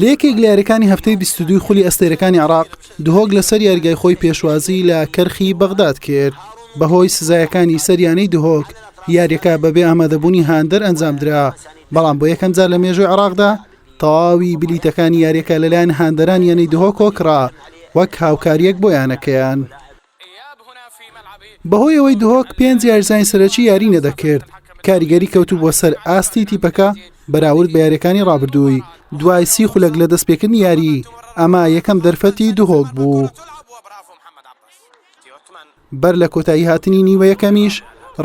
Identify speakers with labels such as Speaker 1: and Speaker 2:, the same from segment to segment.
Speaker 1: لە یەکێک لە یاریەکانی هەفتەی بیست و دووی خولی ئەستێرەکانی عراق دهۆک لەسەر یاریگای خۆی پێشوازی لە کەرخی بەغداد کرد بەهۆی سزایەکانی سەریانەی دهۆک یاریەکە بەبێ ئامادەبوونی هاندەر ئەنجامدرا بەڵام بۆ یەکەمجار لە مێژوی عراقدا تەواوی بلیتەکانی یاریەکە لەلایەن هاندەرانیانەی دهۆکۆکڕا وەک هاوکاریەک بۆ یانەکەیان. بەهۆی ئەوەی دهۆک پێنج یاریزانی سەرەکی یاری نەدەکرد کاریگەری کەوتوبووە سەر ئاستی تیپەکە بەراورد بە یاریەکانی ڕابردووی دوای سی خولەک لە دەستپێکردنی یاری ئەمە یەکەم دەرفەتی دهۆک بوو. بەر لە کۆتایی هاتنی نیوە یەکەمیش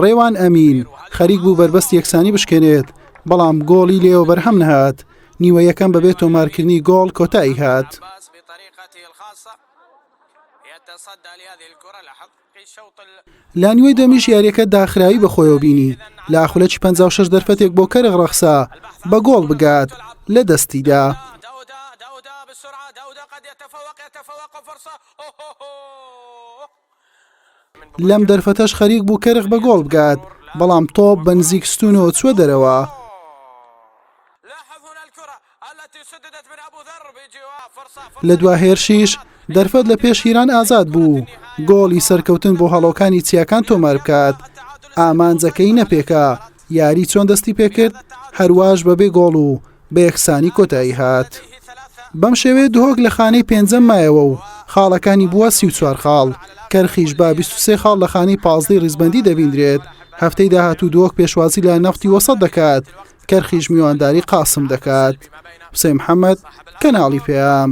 Speaker 1: ڕێوان ئەمین خەریک بوو بەربەست یەکسانی بشکێنێت بەڵام گۆڵی لێەوە بەرهەم نەهات نیوە یەکەم بەبێت تۆمارکردنی گۆڵ کۆتایی هات. لە نیوەی دەمیش یاریەکە داخراوی بە خۆیەوە بینی لە ئاخولەکی 56 دەرفەتێک بۆ کەرغ ڕەخسا بە گۆڵ بگات لە دەستیدا. لەم دەرفەتەش خەریک بوو کەرخ بە گۆڵ بگات بەڵام تۆ بەنزیک ستونەوە چوە دەرەوە لە دوا هێرشیش دەرفەت لە پێش هیران ئازاد بوو گۆڵی سەرکەوتن بۆ هەڵۆکانی چیاکان تۆمار بکات ئامانجەکەی نەپێکا یاری چۆن دەستی پێکرد هەرواش بەبێ گۆڵ و بە یەکسانی کۆتایی هات بەم شێوێ دهۆک لە خانەی پێنجەم مایەوە و خاڵەکانی بووە سی و چوار خاڵ کەرخیش با 23 خاڵ لە خانەی پازدەی ڕیزبندی دەبیندرێت هەفتەی داهاتوو دۆک پێشوازی لە نەفتی وەسەد دەکات کەرخیش میوانداری قاسم دەکات حسێ محەممەد کەناڵی پێیام.